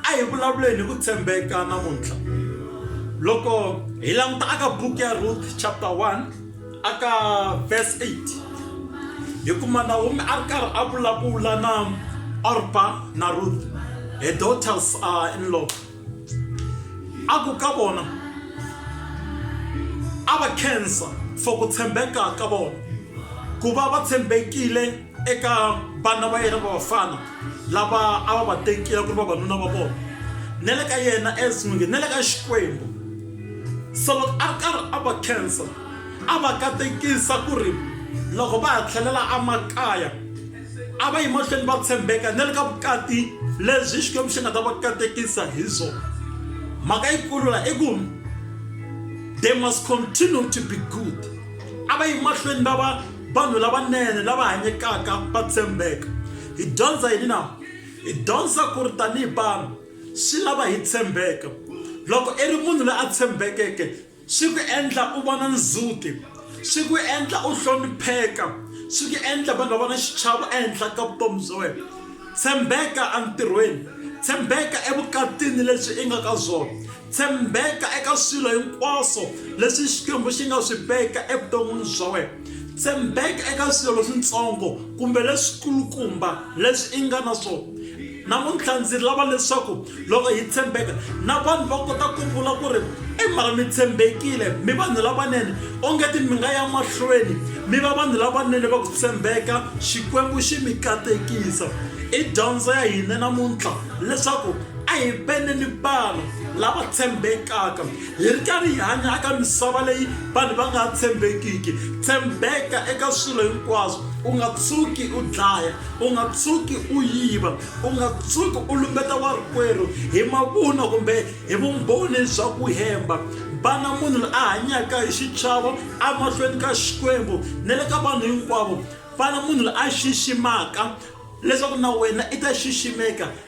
a hi vulavuleni hi ku tshembeka namuntlha loko hi languta aka buku ya ruth chapter 1 aka verse 8 hi kuma nawomi a ri karhi a vulavula na orpa na ruth her daughters are in law a ku ka vona a va khensa for ku tshembeka ka vona ku va va tshembekile eka vana va yena va vafana lava a va va tekile ku ri vavanuna va vona na le ka yena as n'wingi na le ka xikwembu so loko a ri karhi a va khensa a va katekisa ku ri loko va ha tlhelela emakaya a va yi mahlweni va tshembeka na le ka vukati lebyi xikwembu xi nga ta va katekisa hi byona mhaka yikulu la i ku they must continue to be good a va yi mahlweni va va Vanhu lavanene lava hanyekaka va tshembeka. Hi dyondza yini na? Hi dyondza ku ri tanihi vanhu swi lava hi tshembeka. Loko i ri munhu loyi a tshembekeke swi ku endla u vona ndzhuti, swi ku endla u hlonipheka, swi ku endla vanhu va vona xichavo ehenhla ka vutomi bya wena. Tshembeka entirhweni, tshembeka evukatini lebyi i nga ka byona. Tshembeka eka swilo hinkwaswo leswi Xikwembu xi nga swi veka evuton'wini bya wena. Tshembeka eka swilo leswintsongo kumbe leswikulukumba leswi i nga na swona. Namuntlha ndzi lava leswaku loko hi tshembeka na vanhu va kota ku vula ku ri i mara mi tshembekile mi vanhu lavanene ongeti mi nga ya mahlweni mi va vanhu lavanene va ku tshembeka Xikwembu xi mi katekisa. I dyondzo ya hina namuntlha leswaku a hi veneni vanhu lava tshembekaka hi ri karhi hi hanya eka misava leyi vanhu va nga tshembekiki tshembeka eka swilo hinkwaswo u nga tshuki u dlaya u nga tshuki u yiva u nga tshuki u lumbeta warikwerhu hi mavunwa kumbe hi vumbhoni bya ku hemba vana munhu loyi a hanyaka hi xichavo emahlweni ka xikwembu na le ka vanhu hinkwavo vana munhu loyi a xiximaka leswaku na wena i ta xiximeka